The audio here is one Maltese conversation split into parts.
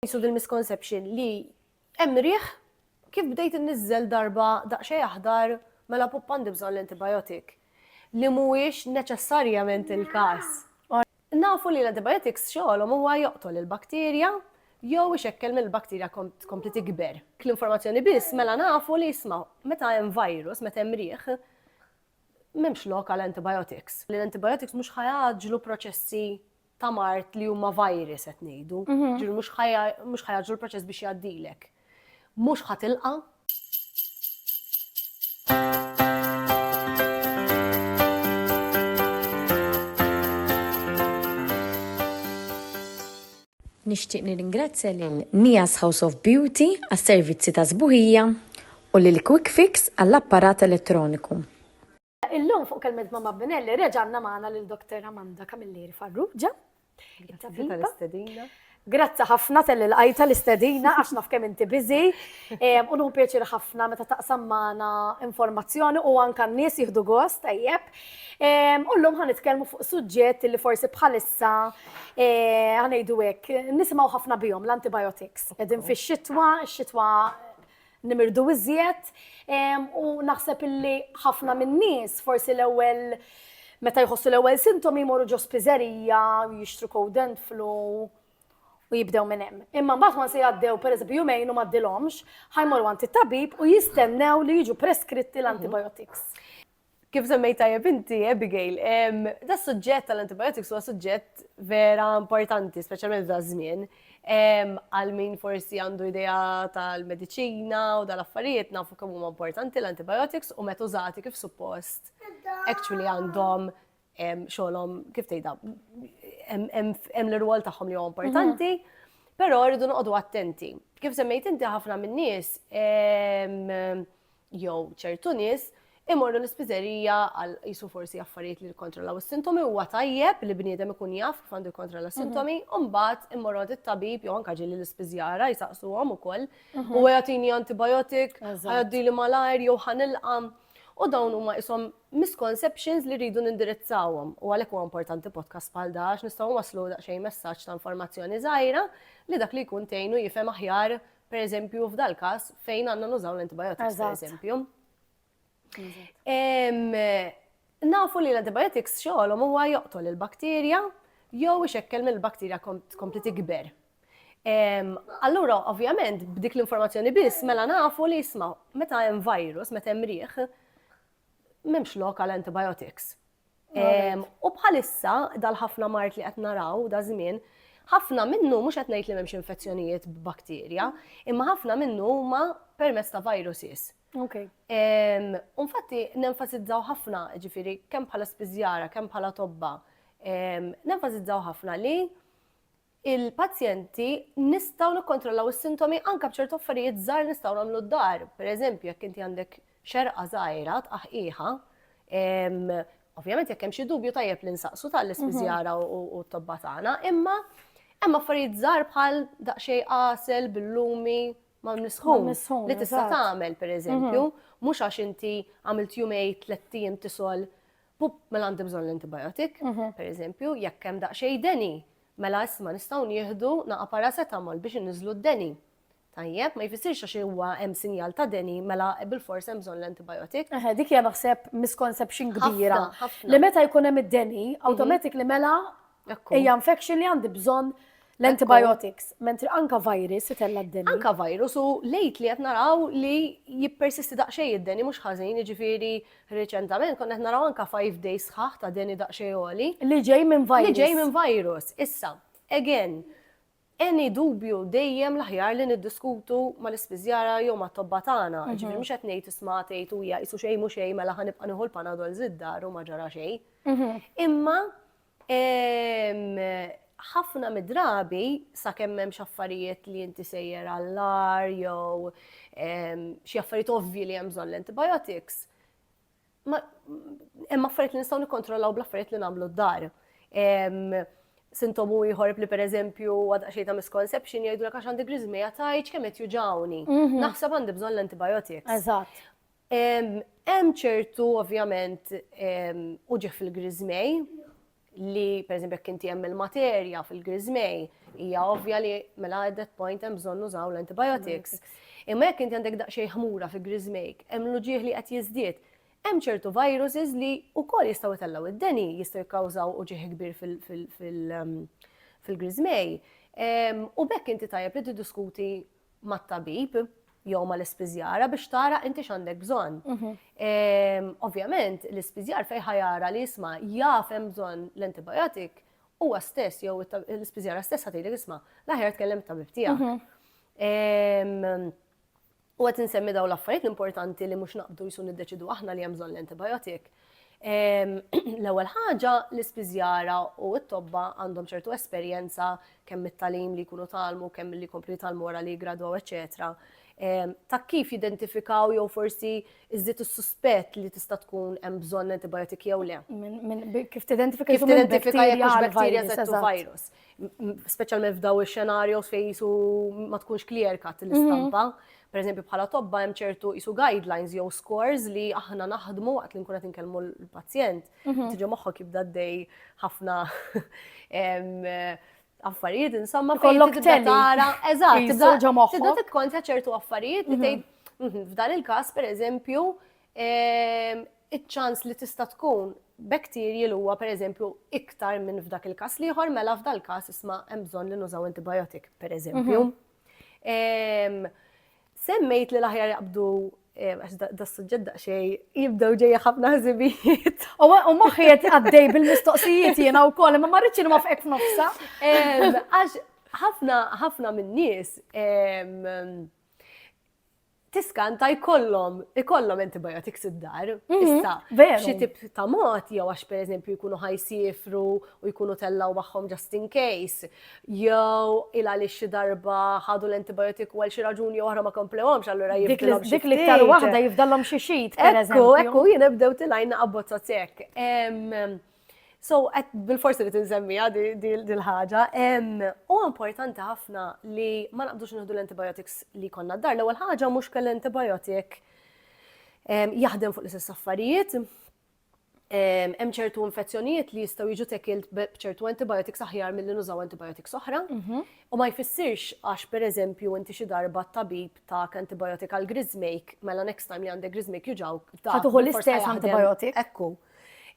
Qisu dil-misconception li hemm riħ kif bdejt inniżżel darba daqsxejn aħdar mela pupp għandi bżonn l-antibiotic. Li mhuwiex neċessarjament il-każ. Nafu li l-antibiotics xogħolhom huwa joqtol il-bakterja jew ixekkel mill-bakterja tkompli tikber. Dik l-informazzjoni biss mela nafu li isma' meta hemm virus, meta hemm riħ, m'hemmx lok għal antibiotics. Li l-antibiotics mhux ħa jgħaġġlu proċessi ta' mart li huma virus qed ngħidu, ġiru mhux ħajaġru l-proċess biex jgħaddilek. Mhux ħatilqa. Nixtieq nirringrazzja lil Nias House of Beauty għas-servizzi ta' sbuħija u lil Quick Fix għall-apparat elettroniku. Illum fuq kelmet ma' Mabbinelli reġanna magħna lil Dr. Amanda Camilleri Farrugia. Grazzi ħafna telli l-qajta l-istedina għax naf kemm inti biżi. U nuhu pjaċir ħafna meta taqsam magħna informazzjoni u anke n-nies jieħdu gost tajjeb. U llum ħa nitkellmu fuq suġġett li forsi bħalissa ħanejdu hekk nisimgħu ħafna bihom l-antibiotics. Qegħdin fix-xitwa, x-xitwa nimirdu iżjed u naħseb illi ħafna min-nies forsi l-ewwel meta jħossu l-ewwel sintomi jmorru ġo spiżerija u jixtru cold and flu u jibdew minn hemm. Imma mbagħad ma se jgħaddew pereżempju jumejn u m'għaddilhomx, ħajmorru għand it-tabib u jistennew li jiġu preskritti l-antibiotics. Kif semmejt tajjeb inti, Abigail, da suġġett tal-antibiotics huwa suġġett vera importanti, speċjalment da żmien. Għal min forsi għandu idea tal-medicina u dal-affarijiet nafu kemm huma importanti l-antibiotics u meta użati kif suppost. Actually għandhom xogħolhom kif tgħidha hemm l-irwol tagħhom li huwa importanti, mhm. però rridu noqogħdu attenti. Kif semmejt inti ħafna min-nies jew ċertu nies imorru l-ispiżerija għal jisu forsi affarijiet li jikkontrollaw is-sintomi huwa tajjeb li bniedem ikun jaf kif għandu jikkontrolla s-sintomi, mhm. u mbagħad imorru għand it-tabib jew anke ġieli l-ispiżjara jisaqsuhom ukoll mhm. u jagħtini antibiotik, għaddi li malajr jew ħanilqam. U dawn huma isom misconceptions li rridu nindirizzawhom u għalhekk huwa importanti podcast bħal da għax nistgħu nwasslu daqsxejn messaġġ ta' informazzjoni żgħira li dak li jkun tgħinu jifhem aħjar pereżempju f'dal-każ fejn għandna nużaw l-antibiotics pereżempju. Nafu li l-antibiotics xogħolhom huwa joqtol il-bakterja jew ixekkel mill-bakterja tkompli tikber. Allura, ovvjament, b'dik l-informazzjoni biss, mela nafu li jisma, meta hemm virus, meta hemm riħ, M'hemmx lok għal antibiotics. U bħalissa dal-ħafna mart li qed naraw da żmien, ħafna minnu mhux qed ngħid li m'hemmx infezzjonijiet b'bakterja, imma ħafna minnu huma permezz ta' viruses. Okay. Unfatti, nenfasizzaw ħafna, ġifiri, kemm bħala spiżjara, kemm bħala tobba, nenfasizzaw ħafna li il-pazjenti nistgħu nikkontrollaw is-sintomi anke b'ċertu affarijiet żgħar li nistgħu nagħmlu d-dar. Pereżempju, jekk inti għandek xerqa żgħira tqaħqiħha, ovvjament jekk hemm xi dubju tajjeb li nsaqsu tal-ispiżjara mhm. u t-tobba tagħna, imma hemm affarijiet żgħar bħal daqsxejn qasel billumi ma nisħun li tista' tagħmel pereżempju, mhm. mhux għax inti għamilt jumej tlettijiem tisol Pup, mela għandi bżonn l-antibiotic, per eżempju, jekk hemm daqsxejn deni, mela isma' nistgħu nieħdu naqa' paracetamol biex inniżlu d-deni. Tajjeb, ma jfissirx għax huwa hemm sinjal ta' deni mela bilfors hemm bżonn l-antibiotic. Eħe, dik hija naħseb misconception kbira. Li meta jkun hemm id-deni, awtomatik li mela Hija infection li għandi bżonn l-antibiotics, mentri anka virus itella d-deni. Anka virus u lejt li qed naraw li jippersisti daqsxejn id-deni mhux ħażin, jiġifieri reċentament konna qed naraw anka 5 days sħaħ ta' deni daqsxejn għoli. Li ġej minn virus. Li ġej minn virus. Issa, again, any dubju dejjem l-aħjar li niddiskutu mal-ispiżjara jew mat-tobba tagħna, ġifieri mhux qed ngħid isma' tgħid u hija qisu xejn mhu xejn mela ħa nibqa' nieħu l-panadol żid-dar u ma ġara xejn. Imma ħafna mid-drabi sakemm m'hemmx affarijiet li inti sejjer għall-agħar jew xi affarijiet ovvji li hemm bżonn l-antibiotics, Hemm affarijiet li nistgħu nikkontrollaw bl-affarijiet li nagħmlu d-dar. Sintomu ieħor li pereżempju għadha xejn ta' misconception jgħidu għax għandi griżmeja tajġ kemm qed juġawni. Mhm. Naħseb għandi bżonn l-antibiotics. Eżatt. Hemm ċertu ovvjament uġi fil-griżmej li per eżempju jekk inti hemm il-materja fil-griżmej, hija ovvja li mela at that point hemm bżonn nużaw l-antibiotics. Imma jekk inti għandek daqsxejn ħmura fi griżmejk, hemm l-uġieħ li qed jiżdied, hemm ċertu viruses li wkoll jistgħu jtellgħu id-deni, jistgħu jikkawżaw uġieħ kbir fil-griżmej. U bekk inti tajjeb li tiddiskuti mat-tabib jew mal-ispiżjara biex tara inti x'għandek bżonn. Ovvjament, l-ispiżjar fejn ħa jara li jisma' jaf hemm bżonn l-antibiotic huwa stess jew l-ispiżjara stess ħatili jisma' l-aħjar tkellem tabib tiegħek. U qed insemmi dawn l-affarijiet l-importanti li mhux naqbdu jisu niddeċidu aħna li hemm bżonn l-antibiotic. L-ewwel ħaġa, l-ispiżjara u t-tobba għandhom ċertu esperjenza kemm mit-talim li jkunu talmu, kemm li jkomplu jitalmu wara li jgradwaw, eċetera. Ta' kif jidentifikaw jew forsi iżdiet is-suspett li tista' tkun hemm bżonn antibiotik jew le. Kif tidentifika kif tidentifika jekk hux bakterja jew virus. Speċjalment f'daw ix-xenarjos fejn jisu ma tkunx clear cut l-istampa. Mhm. Per eżempju bħala tobba hemm ċertu jisu guidelines jew scores li aħna naħdmu waqt li nkun qed inkellmu l-pazjent. Mhm. Tiġi moħħok jibda dej ħafna affarijiet insomma kollok tara. Eżatt, tibda ġo moħħok. Tibda tikkontja ċertu affarijiet li mhm. tgħid f'dan il-każ pereżempju iċ-ċans li tista' tkun bacterial huwa pereżempju iktar minn f'dak il-każ l-ieħor mela f'dal-każ isma' hemm bżonn li nużaw antibiotic pereżempju. Semmejt li l-aħjar jaqbdu għax da suġġett daqsxejn jibdew ġejja ħafna ħsibijiet. U moħħi qed għaddej bil-mistoqsijiet jiena wkoll, imma ma rridx ma f'hekk f'nofsa. Għax ħafna ħafna min-nies tiskanta jkollhom ikollhom antibiotics id-dar. Mhm, Issa, xi tip ta' mod jew għax pereżempju jkunu ħajsifru u jkunu tellaw magħhom just in case, jew il għaliex xi darba ħadu l-antibiotic u għal xi raġuni oħra ma komplewhomx allura jibdilhom xi Dik l-iktar waħda jifdallhom xi xit. Ekku, ekku, jien ebdew tilajna abbozza sekk. So, bil-forsi li tinżemmija dil-ħaġa, u importanti ħafna li ma naqbdux nħdu l-antibiotics li konna d-dar. L-ewwel ħaġa mhux kell antibiotic jaħdem fuq l-istess affarijiet. Hemm ċertu infezzjonijiet li jistgħu jiġu tekilt b'ċertu antibiotics aħjar milli nużaw antibiotics oħra. Mhm. U ma jfissirx għax pereżempju inti xi darba tabib ta' antibiotic għal grizzmake, mela next time li għandek grizzmake juġaw. Ħatuħu l-istess antibiotic. Ekku.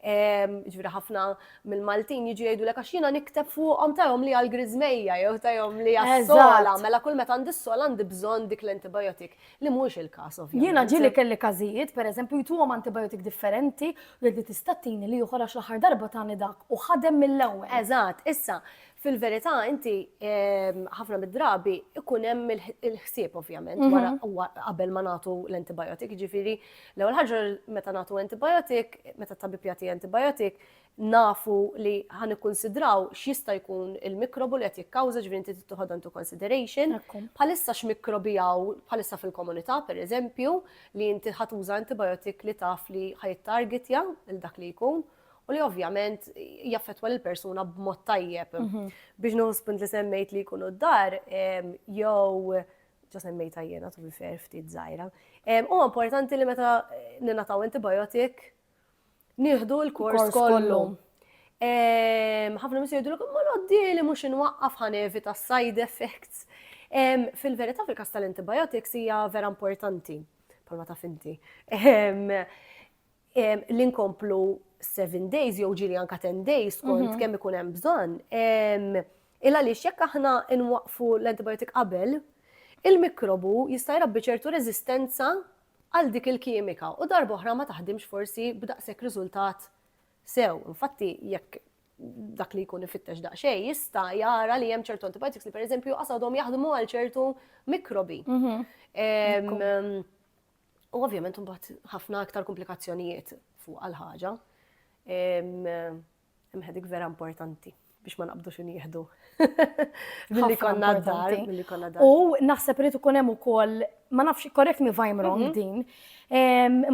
ġviri ħafna mill-Maltin jiġu jgħidu l għax jina nikteb fuqhom tajhom li għal-grizmeja jew tajhom li għas-sola, mela kull meta għandi s-sola għandi bżonn dik l-antibiotik li mhux il-każ ovvjament. Jiena ġieli kelli każijiet, pereżempju jtuhom antibiotik differenti u jgħid li tista' tini li ieħor għax l-aħħar darba tani dak u ħadem mill-ewwel. Eżatt, issa Fil-verità inti ħafna mid-drabi ikun hemm il-ħsieb ovvjament mhm. wara qabel ma nagħtu l-antibiotic, ġifieri l-ewwel ħaġa meta nagħtu antibiotic, meta tabib jagħti antibiotic, nafu li ħan ikkunsidraw x'jista' jkun il-mikrobu li qed jikkawża ġifieri inti tittuħod into consideration. Bħalissa x'mikrobi hawn bħalissa fil-komunità pereżempju li inti ħatuża antibiotic li taf li ħajtargetja il dak li jkun. u li ovvjament jaffetwa l persuna b'mod tajjeb. Mhm. Biex nuħu li semmejt li jkunu d-dar, jew ġa semmejt jena tu fer ftit zaħira. U importanti li meta ninataw antibiotik, nieħdu l-kors kollu. ħafna mis jgħidu l ma l-għoddi li mux inwaqqaf ħanevi ta' side effects. Fil-verita fil-kas tal-antibiotics hija vera importanti, palma ta' finti. li nkomplu 7 days jew ġiri anka 10 days kont mhm. kemm ikun hemm bżonn. Illa li jekk aħna nwaqfu l-antibiotik qabel, il-mikrobu jista' jrabbi ċertu reżistenza għal dik il-kimika u darba oħra ma taħdimx forsi b'daqshekk riżultat sew. Infatti jekk dak li jkun ifittex daqsxej jista' jara li hemm ċertu antibiotics li pereżempju qasadhom jaħdmu għal ċertu mikrobi. Mhm. U ovvjament mbagħad ħafna aktar komplikazzjonijiet fuq għal ħaġa. Imħedik vera importanti biex ma naqbdu xin jihdu. Billi konna dar, billi konna dar. U naħseb rrit ikun hemm ukoll, ma nafx korrekt mi vajm wrong mhm. din.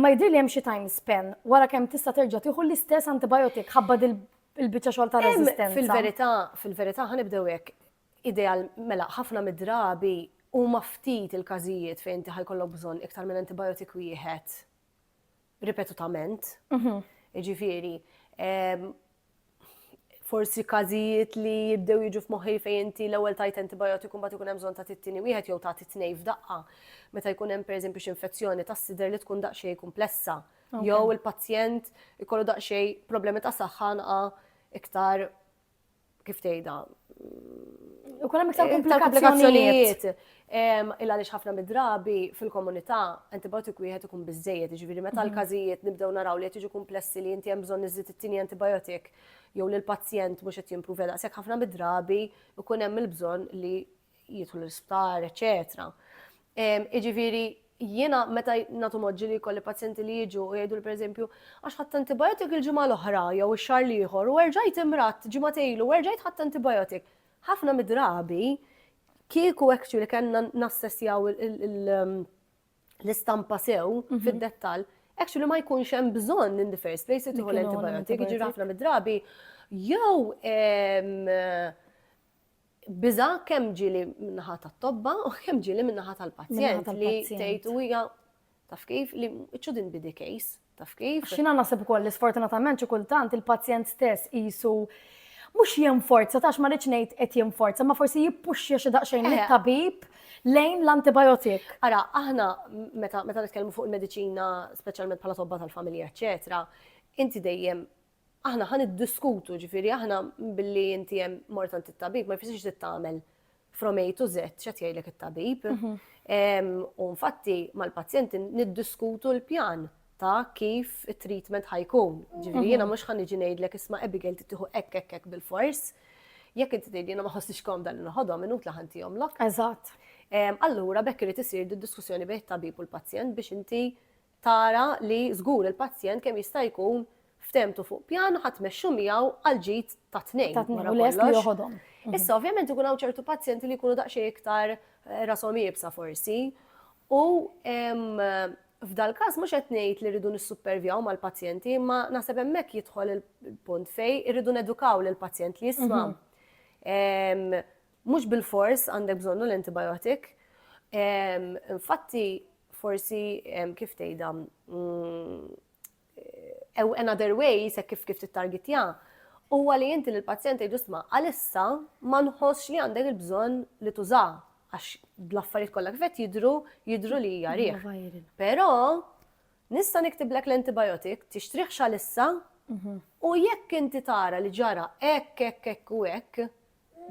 Ma jidri li hemm xi time span wara kemm tista' terġa' tieħu l-istess antibiotik ħabba il-biċċa xogħol ta' resistenza. Fil-verità, fil-verità ħanibdew hekk. Ideal, mela, ħafna mid-drabi huma ftit il-każijiet fejn inti ħa jkollok bżonn iktar minn antibiotic wieħed ripetutament. Jiġifieri, ehm, forsi każijiet li jibdew jiġu f'moħħi fejn inti l-ewwel tajt antibiotic u mbagħad ikun hemm bżonn ta' tittini wieħed jew ta' titnej f'daqqa. Meta jkun hemm pereżempju xi infezzjoni tas-sider li tkun daqsxejn kumplessa. Jew il-pazjent ikollu daqsxejn problemi ta' saħħa iktar kif tgħidha, ikun hemm iktar komplikazzjonijiet. Illa li ħafna mid-drabi fil-komunità antibiotik wieħed ikun biżejjed, ġifieri meta mhm. l-każijiet nibdew naraw li qed jiġu komplessi li inti hemm bżonn iżid it-tieni antibiotik jew li l-pazjent mhux qed jimprovja daqshekk ħafna mid-drabi ikun hemm il-bżonn li jidħlu l-isptar, eċetera. Jiġifieri jiena meta nagħtu moġġi li jkolli pazjenti li jiġu u jgħidu pereżempju għax ħadd antibiotik il-ġimgħa l-oħra jew ix-xahar l-ieħor u erġajt imrat ġimgħa ilu u erġajt ħadd antibiotik. Ħafna midrabi kieku actually kellna nassessjaw l-istampa sew mhm. fid-dettall, actually ma jkunx hemm bżonn in the first place li tieħu l-antibiotik, jiġi ħafna midrabi jew biża' kemm ġieli min-naħa tat-tobba u kemm ġieli min-naħa tal-pazjent li tgħid u hija taf kif li it shouldn't be the case taf kif. X'jiena naħseb ukoll li sfortunatament xi kultant il-pazjent stess qisu mhux jinforza, tax ma rridx ngħid qed jinforza, ma forsi jippuxxja xi daqsxejn eh. lit-tabib lejn l-antibiotik. Ara, aħna meta meta nitkellmu fuq il-mediċina, speċjalment bħala tobba tal-familja, eċetera, inti dejjem Aħna ħa niddiskutu, ġifieri aħna billi inti hemm mort għand it-tabib ma jfissirx trid tagħmel from A to Z x'qed jgħidlek it-tabib. U infatti mal-pazjenti niddiskutu l-pjan ta' kif it-treatment ħa jkun. Ġifieri jiena mhux ħa niġi ngħidlek isma' Abigail trid tieħu hekk hekk hekk bil-fors. Jekk inti tgħidli jiena ma ħossnix komda li noħodhom inutla ħa ntihomlok. Eżatt. Allura b'hekk irid isir diskussjoni bejn it-tabib u l-pazjent biex inti tara li żgur il-pazjent kemm jista' jkun ftehmtu fuq pjan u ħa tmexxu miegħu għall-ġid tat-tnejn. Tat-tnejn u lest li joħodhom. Issa ovvjament ikun hawn ċertu pazjenti li jkunu daqsxejn iktar rashom iebsa forsi u f'dal-każ mhux qed ngħid li rridu nissuppervjaw mal-pazjenti imma naħseb hemmhekk jidħol il-punt fejn irridu nedukaw lill-pazjent li jisma' Mhux bilfors għandek bżonnu l-antibiotic. Infatti, forsi kif tgħidha mm, another way se kif kif tittargetja huwa li inti l-pazjent tgħidu sma' għalissa ma nħossx li għandek il-bżonn li tuża għax l-affarijiet kollha kif qed jidru jidru li hija riħ. Però nista' niktiblek l-antibiotic tixtrih xalissa mhm. u jekk inti tara li ġara hekk hekk hekk u hekk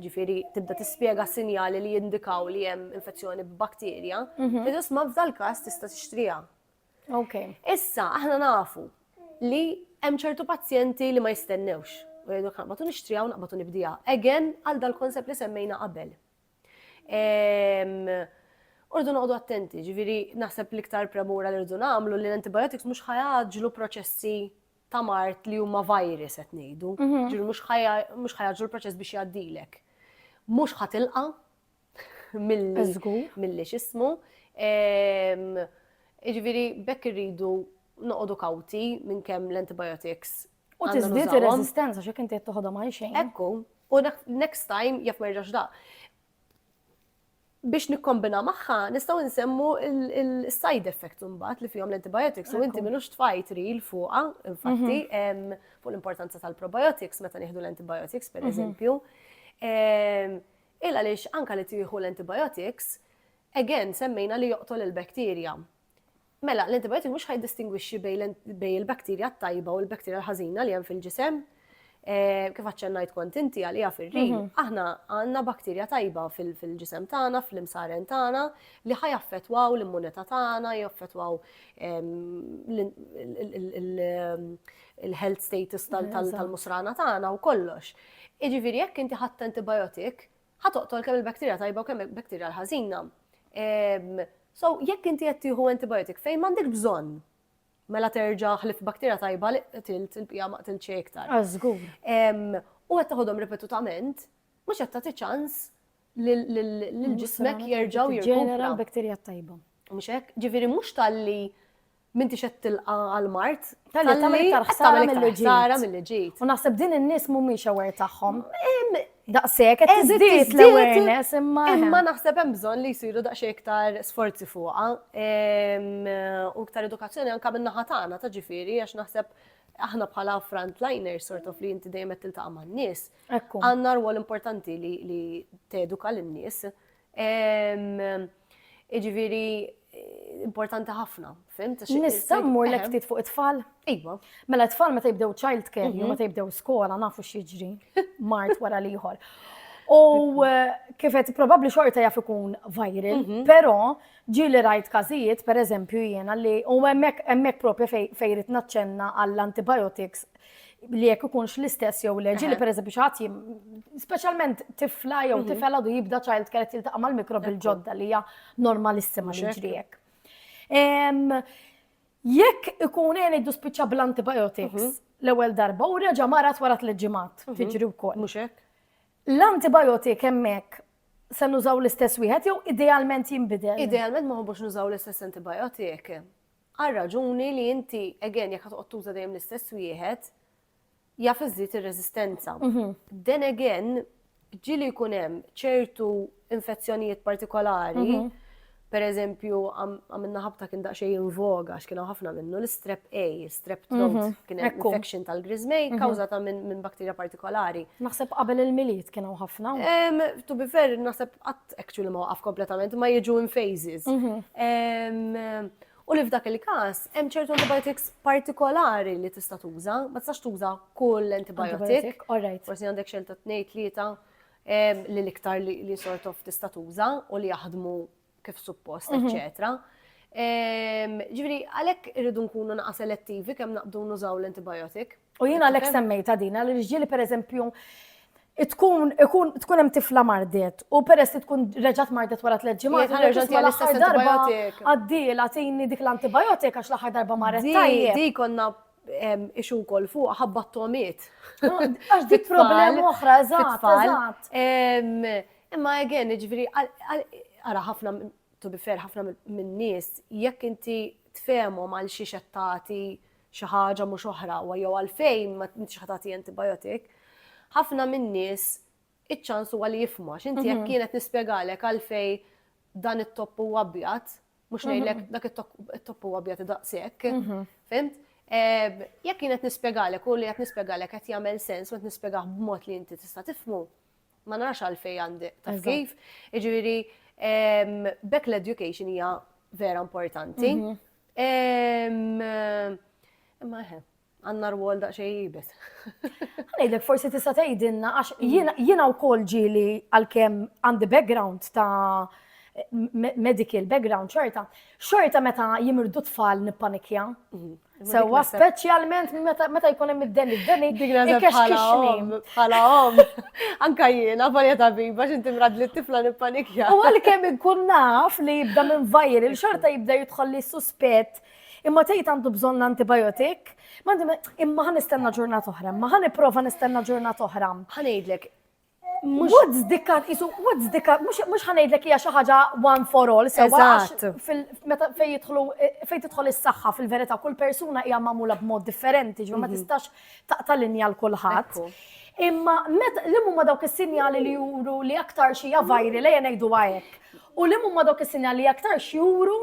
ġifieri tibda tispjega sinjali li jindikaw li hemm infezzjoni b'bakterja, fil-ġust ma f'dal każ tista' tixtriha. Okay. Issa, aħna nafu li hemm ċertu pazjenti li ma jistennewx. U jgħidu kan, batu nixtrija u naqbatu nibdija. Again, għal dal-konsept li semmejna qabel. Urdu noqdu attenti, ġviri naħseb l-iktar premura li rridu namlu li l-antibiotics mux ħajadġlu proċessi ta' mard li huma virus qed ngħidu, ġifieri mhux ħajaġġlu l-proċess biex jgħaddilek. Mhux ħatilqa' milli x'ismu. Jiġifieri b'hekk irridu noqogħdu kawti minn kemm l-antibiotics. U tiżdied ir-reżistenza x'jekk inti qed toħodhom għal xejn. Ekku, u next time jaf ma jerġax daqq. Biex nikkombina magħha nistgħu nsemmu l-side effects imbagħad li fihom l-antibiotics u inti minux tfajt ril fuqha, infatti, mhm. fuq l-importanza tal-probiotics meta nieħdu l-antibiotics pereżempju. Mhm. Illa lix anka li tieħu l-antibiotics, again semmejna li joqtol il-bakterja. Mela, l-antibiotiku mhux ħajdistingwixxi bejn il-bakterja t-tajba u l-bakterja l-ħażina li hemm fil-ġisem. Eh, kif aċċennajt kont inti għalija fir-rin, mhm. aħna għandna bakterja tajba fil-ġisem tagħna, fl-imsaren tagħna, li ħaj affettwaw l-immunità tagħna, jaffettwaw il-health status tal-musrana tagħna u kollox. Iġifieri jekk inti ħadd antibiotik, Ħa toqtol kemm il-bacteria tajba u kemm il-bacteria l-ħażina. So, jekk inti qed tieħu antibiotic fejn m'għandek bżonn, mela terġa' ħlif bacteria tajba li qtilt il-bqija ma qtilt xejn iktar. Għażgur. U qed taħodhom ripetutament, mhux qed tagħti ċans lil ġismek jerġgħu jirġenera l-bacteria tajba. Mhux hekk, ġifieri mhux talli M'intix qed tilqa' għall-mard. Talli tagħmel iktar ħsara milli ġiet. Ħsara milli ġiet. U naħseb din in-nies mhumiex aware tagħhom. Daqshekk qed tiżdied l-awareness imma. Imma naħseb hemm bżonn li jsiru daqsxejn iktar sforzi fuqha u iktar edukazzjoni anke min-naħa tagħna ta' ġifieri għax naħseb aħna bħala frontliners sort of li inti dejjem qed tiltaqa' man-nies. Għandna rwol importanti li teduka lin-nies Iġviri, importanti ħafna, fim? Nista' mmur l ftit fuq it-tfal? Iva. Mela t-tfal meta jibdew child care, mhm. meta jibdew skola, nafu xieġri, mart wara liħor. U eh, kifet probabli xorta jaf ikun viral, mhm. pero ġili rajt kazijiet, per eżempju jena li u emmek propja fejrit naċċenna għall-antibiotics li jekk ikunx l-istess jew le, ġili per eżempju xaħat jim, specialment tifla jew mhm. tifel għadu jibda ċajlt keret jiltaqa mal mikrob il-ġodda li hija normalissima li ġrijek. Jekk ikun għen iddu spiċċa bl-antibiotics mhm. l-ewwel darba u reġa' marat wara tliet ġimgħat mhm. tiġri wkoll. Mhux hekk. L-antibiotik hemmhekk se nużaw l-istess wieħed jew idealment jinbidel? Idealment ma ħobbux nużaw l-istess antibiotik. Għal raġuni li inti, again, jekk toqgħod tuża dejjem l-istess wieħed, jaf iżżid ir-reżistenza. Then again, ġili jkun hemm ċertu infezzjonijiet partikolari, mhm. per eżempju, għamilna ħabta kien daqxej invoga, x'kienu ħafna minnu, l-strep A, strep throat, mhm. kien hemm infection tal-grizmej, mhm. kawżata minn bakterja partikolari. Naħseb qabel il-miliet kienu ħafna. To be fair, naħseb actually ma waqaf kompletament, ma jiġu in phases. Mhm. U li f'dak il-kas, hemm ċertu antibiotics partikolari li tista' tuża, ma tistax tuża kull antibiotic. Forsi għandek xelta tnejn tlieta li l-iktar li sort of tista' tuża u li jaħdmu kif suppost, mhm. eċċetera. Ġifieri għalhekk irridu nkunu naqa' selettivi kemm naqbdu nużaw l-antibiotic. U jien għalhekk semmejta din għal irġieli pereżempju tkun ikun tkun hemm tifla mardet u peress li tkun reġgħet mardet wara tliet ġimgħat reġgħet hija l-istess darba għaddiela tini dik l-antibiotik għax l-aħħar darba marret tajjeb. Di konna ixu kol fuq ħabba t-tomiet. Għax dik problema oħra, eżatt. Imma again, ġviri, għara ħafna, to be fair, ħafna minn nies, jekk inti tfemhom għal xi xettati xi ħaġa mhux oħra u jew għalfejn ma intix ħa tagħti antibiotic, ħafna min-nies iċ-ċans huwa li jifhmu għax inti jekk kienet nispjegalek għalfej dan it-topp huwa abjad, mhux ngħidlek dak it-topp huwa abjad daqshekk, fimt? Jekk kienet nispjegalek u li qed nispjegalek qed jagħmel sens u qed nispjegah b'mod li inti tista' tifhmu, ma narax għalfej għandi taf kif. Iġifieri bekk l-education hija vera importanti. Mhm. Imma eħe, għanna rwol daqxej jibet. Għajdek, forsi tista' tgħidilna għax mm. jiena wkoll ġieli għalkemm għandi background ta' medical background xorta, xorta meta jimirdu tfal nippanikja. Mhm. Sewa speċjalment meta jkun hemm id-deni, id-deni ikexkixni. Bħala om, anka jiena varja tabiba x'inti mrad li tifla nippanikja. U għalkemm ikun naf li jibda minn vajr il-xorta jibda jidħol li suspett imma tgħid għandu bżonn antibiotik, imma ħan nistenna ġurnat oħra, imma ħan nipprova nistenna ġurnat oħra. Ħanejdlek, What's the cut? Isu, what's the cut? Mux ħanajdlek hija xi ħaġa one for all, sewa meta fej jidħlu fej tidħol is-saħħa fil-verità kull persuna hija magħmula b'mod differenti, ġifier ma mhm. tistax taqta' linja l kulħadd. Imma li huma dawk is-sinjali li juru li aktar xi hija vajri lejja ngħidu hekk. U liema huma dawk is-sinjali li aktarx juru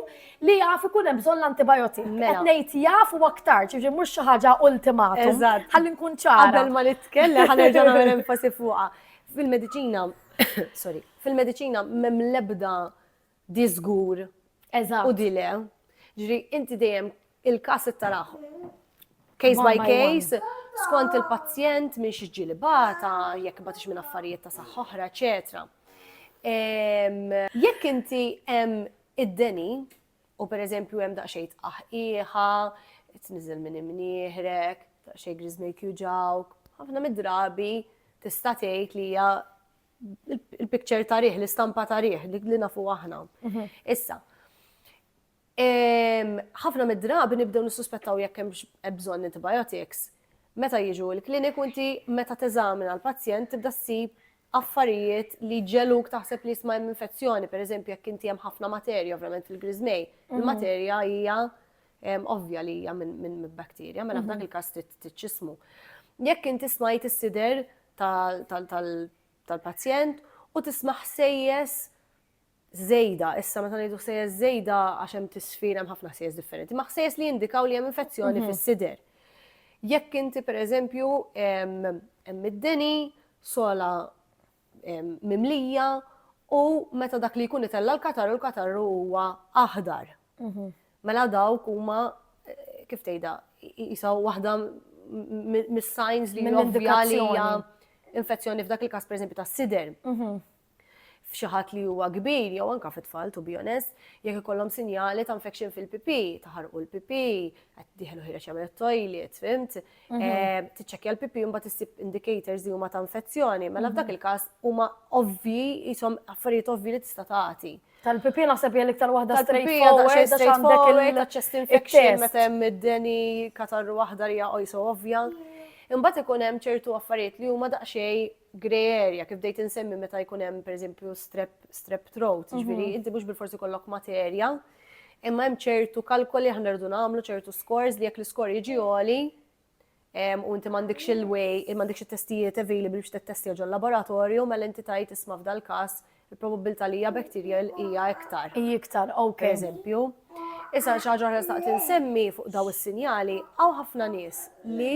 li jaf ikun hemm bżonn l-antibijotik? Mela. Qed ngħid jaf u aktarx, jiġifieri mhux xi ħaġa ultimatum. Eżatt. Ħalli nkun ċara. Qabel ma nitkellem ħa nerġa' nagħmel enfasi fuqha. Fil-mediċina, sorry, fil-mediċina m'hemm l-ebda di żgur u di le. Ġifieri inti dejjem Il-każ it-taraħ case by case, skont il-pazjent minn xi ġieli bata, jekk batix minn affarijiet ta' saħħa oħra, eċetera. Jekk inti hemm id-deni u pereżempju hemm daqsxejn tqaħqiħa, tniżel minn imnieħrek, daqsxejn griżmejk juġawk, ħafna mid-drabi tista' tgħid li hija il-picture tarih, l-istampa tarih, li nafu aħna. Mhm. Issa, Ħafna mid-drabi nibdew nissuspettaw jekk hemmx bżonn antibiotics. Meta jiġu l-kliniku inti meta teżamina l-pazjent tibda ssib affarijiet li ġeluk taħseb li jisma' hemm infezzjoni, pereżempju jekk inti hemm ħafna materja ovvjament fil-griżmej. Il-materja hija ovvja li hija minn bakterja, mela f'dak il-każ tiċċismu. Jekk inti smajt is-sider tal-pazjent u tisma' ħsejjes żejda, issa meta ngħidu ħsejjes żejda għax hemm tisfir hemm ħafna ħsejjes differenti, ma ħsejjes li jindikaw li hemm infezzjoni mhm. fis-sider. Jekk inti pereżempju hemm id-deni, sola mimlija u meta dak li jkun itella l-katarru l-katarru huwa aħdar. Mhm. Mela dawk huma eh, kif tgħidha jisaw waħda mis-signs li hija infezzjoni f'dak il-każ pereżempju tas-sider. Mhm. f'xi ħadd li huwa kbir jew anke fi tfal to be honest, jekk ikollhom sinjali ta' infection fil-pipi, taħarqu l-pipi, qed diħlu ħireġ jagħmel it-toilet, fimt? Mhm. Eh, tiċċekkja l-pipi u mbagħad issib indicators li huma ta' infezzjoni, mela mhm. f'dak il-każ huma ovvji jisom affarijiet ovvji li tista' tagħti. Tal-pipi naħseb hija l-iktar waħda straightforward għax għandek il-chest infection meta hemm id-deni katarru waħda li hija ovvja. Imbagħad ikun hemm ċertu affarijiet li huma daqsxejn grey area, kif bdejt insemmi meta jkun hemm pereżempju strep, strep throat, mhm. ġifieri inti mhux bil-forsi kollok materja, imma hemm ċertu kalkoli aħna rridu nagħmlu ċertu scores li jekk l-iskor jiġi għoli u inti m'għandekx il-way, m'għandekx it-testijiet available biex tettestja ġol laboratorju, mela inti tajt isma' f'dal każ il-probabilità li hija bacterial hija iktar. Hija iktar, ok. Per eżempju. Issa xi ħaġa oħra staqt insemmi fuq daw is-sinjali, hawn ħafna nies li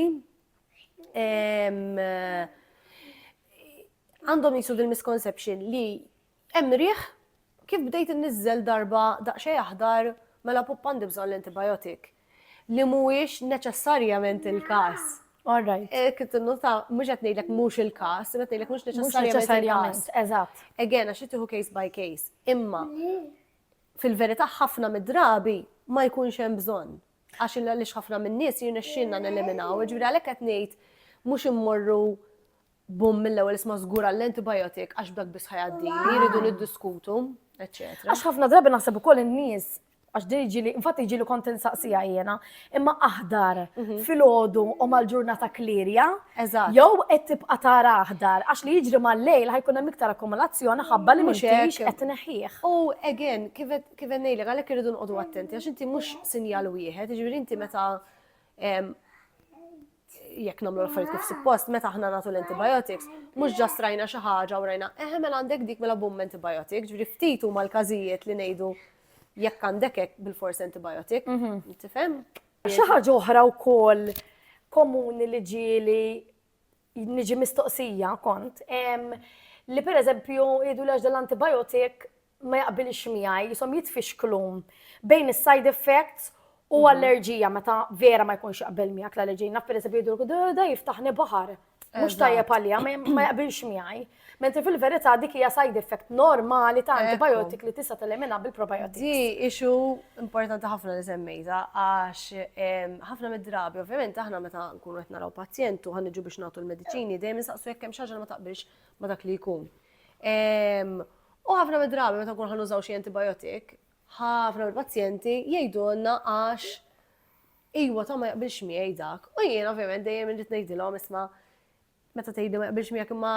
għandhom jisu dil-misconception li hemm riħ kif bdejt innizzel darba daqsxejn aħdar mela pup għandi bżonn l-antibiotic li mhuwiex neċessarjament il-każ. All right. Eh, Kitt nota mhux qed ngħidlek mhux il-każ, qed ngħidlek mhux neċessarjament. Eżatt. Again, għax tieħu case by case. Imma fil-verità ħafna mid-drabi ma jkunx hemm bżonn. għax il għaliex ħafna min-nies jirnexxielna neliminaw, jiġifieri għalhekk qed ngħid mhux immorru bum mill-ewwel isma' żgur għall-antibiotic għax b'dak biss ħajgħaddi, jridu niddiskutu, eċċetera. Għax ħafna drabi naħseb ukoll in-nies għax din iġili, infatti iġili kont insaqsija jiena, imma aħdar mhm. fil-ħodu u mal-ġurnata klirja, jew qed tibqa' tara aħdar, għax li jiġri mal-lejl ħajkun hemm iktar akkumulazzjoni ħabba li mhux qed neħħieħ. U again, kif Kif qed ngħidlek, għalhekk irridu nqogħdu attenti għax inti mhux sinjal wieħed, jiġifieri inti meta jekk nagħmlu l-affarijiet kif suppost, meta aħna nagħtu l-antibiotics, mhux ġast rajna xi ħaġa u rajna, eħe mela għandek dik mela bum antibiotic, ġifieri ftit huma l-każijiet li ngħidu jekk għandek hekk bil-fors antibiotic, mhm. tifhem? Xi ħaġa oħra wkoll komuni li ġieli niġi mistoqsija kont li pereżempju jgħidu l dal-antibiotic ma jaqbilx miegħi, jisom jitfixklu bejn is-side effects u mhm. allerġija meta vera ma jkunx jaqbel miegħek l-allerġija. Naf pereżempju jidru da jiftaħni baħar. Mhux tajjeb għalija, ma jaqbilx miegħi. Mentri fil-verità dik hija side effect normali ta' antibiotic li tista' telemina bil-probiotics. Di ixu importanti ħafna li semmejta għax ħafna mid-drabi, ovvjament aħna meta nkunu qed naraw pazjent u ħanġu biex nagħtu l-mediċini dejjem nistaqsu jekk hemm xi ma taqbilx ma dak li jkun. U ħafna mid-drabi meta nkun ħanużaw xi antibiotic, ħafna mill-pazjenti jgħidulna għax iwa ta' ma jaqbilx miegħi dak. U jien ovvjament dejjem irrid ngħidilhom isma' meta tgħidli ma jaqbilx miegħek imma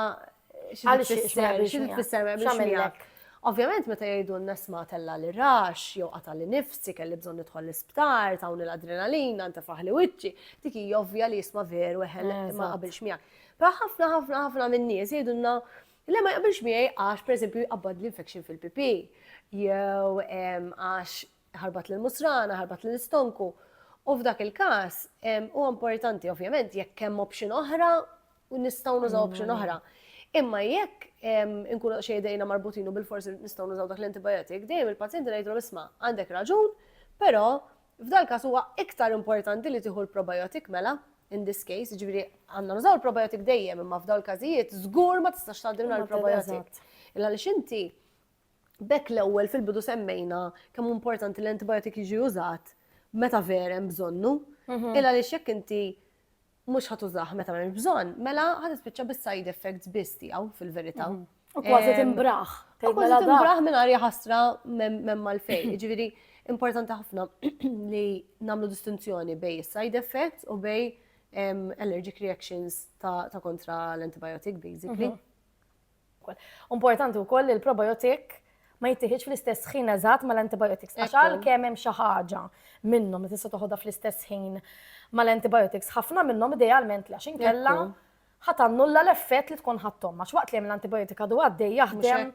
xi tfisser ma jaqbilx miegħek. Ovvjament meta jgħidulna sma' tella' li rax, jew qata' li nifsi, kelli bżonn nidħol l-isptar, tawni l-adrenalina, ntefaħli wiċċi, dik hija ovvja li jisma' veru eħe ma jaqbilx miegħek. Però ħafna ħafna ħafna min-nies jgħidulna le ma jaqbilx miegħi għax pereżempju jqabbad l-infection fil-pipi jew għax ħarbat lil musrana, ħarbat lil istonku. U f'dak il-każ huwa importanti ovvjament jekk hemm option oħra u nistgħu nużaw option oħra. Imma jekk inkunu xejdejna marbutinu bil-forsi nistgħu nużaw dak l-antibiotik, dejjem il-pazjenti ngħidlu isma' għandek raġun, però F'dal-każ huwa iktar importanti li tieħu l-probiotic mela, in this case, jiġifieri għandna nużaw il-probiotic dejjem imma f'dawn il-każijiet żgur ma tistax tgħaddi mingħajr il-probiotic. Illa għaliex inti bekk l-ewwel fil-bidu semmejna kemm hu importanti l-antibiotic jiġi użat meta vera hemm bżonnu, illa għaliex jekk inti mhux ħa tużah meta m'hemmx bżonn, mela ħa tispiċċa bis-side effects biss tiegħu fil-verità. Mhm. U kważi timbraħ. U kważi mela timbraħ minn arja ħasra m'hemm malfejn. Ġifieri importanti ħafna li nagħmlu distinzjoni bej side effects u bej allergic reactions ta' kontra l-antibiotic basically. Mhm. Importanti wkoll li l-probiotic ma jittieħidx fl-istess ħin eżatt mal-antibiotics. Għax għalkemm hemm xi ħaġa minnhom li tista' toħodha fl-istess ħin mal-antibiotics, ħafna minnhom idealment għax inkella ħatannulla l-effett li tkun ħadthom. Għax waqt li hemm l-antibiotika du għaddej jaħdem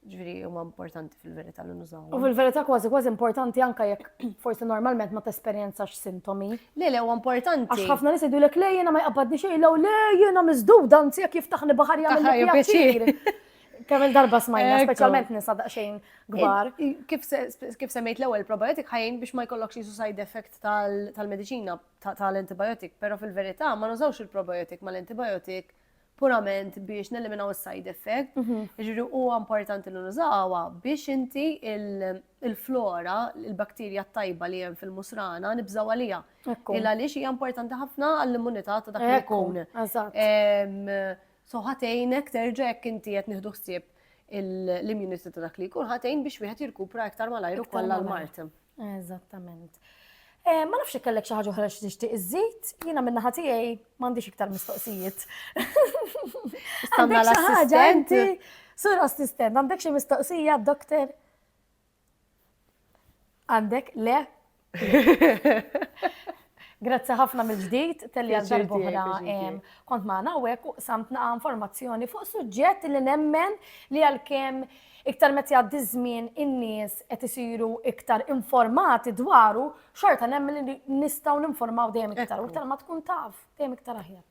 Ġviri, huma importanti fil-verità li nużaw. U fil-verità kważi kważi importanti anka jekk forsi normalment ma tesperjenzax sintomi. Le, le, huwa importanti. Għax ħafna nies jgħidu lek le jiena ma jqabbadni xejn, lew le jiena miżdud anzi jekk jiftaħni baħar jagħmel pjaċir. Kemm il-darba smajna, speċjalment nisa daqsxejn kbar. Kif semmejt l-ewwel probiotik ħajjin biex ma jkollokx jisu side effect tal-mediċina tal-antibiotik, però fil-verità ma nużawx il-probiotik mal-antibiotik purament biex neliminaw is-side effect, jiġri huwa importanti li nużawha biex inti il-flora, il-bakterja tajba li hemm fil-musrana nibżaw għalija. Il għaliex hija importanti ħafna għall-immunità ta' dak li jkun. So ħatejnek terġa' jekk inti qed nieħdu ħsieb l-immunità ta' dak li jkun ħatejn biex wieħed jirkupra iktar malajr ukoll l-mart. Eżattament. Eh, ma nafx kellek xi ħaġa oħra xi tixtieq iżid, jiena minn naħa tiegħi m'għandix iktar mistoqsijiet. Stanna l-assistent. Sur assistent, għandek xi mistoqsija, doktor? Għandek le? Grazzi ħafna mill-ġdid telli għal darbohra kont maħna għawek u samtna informazzjoni fuq suġġett li nemmen li għal-kem iktar meta jgħaddi żmien in-nies qed isiru iktar informati dwaru, xorta nemmen li nistgħu ninformaw dejjem iktar u iktar ma tkun taf dejjem iktar aħjar.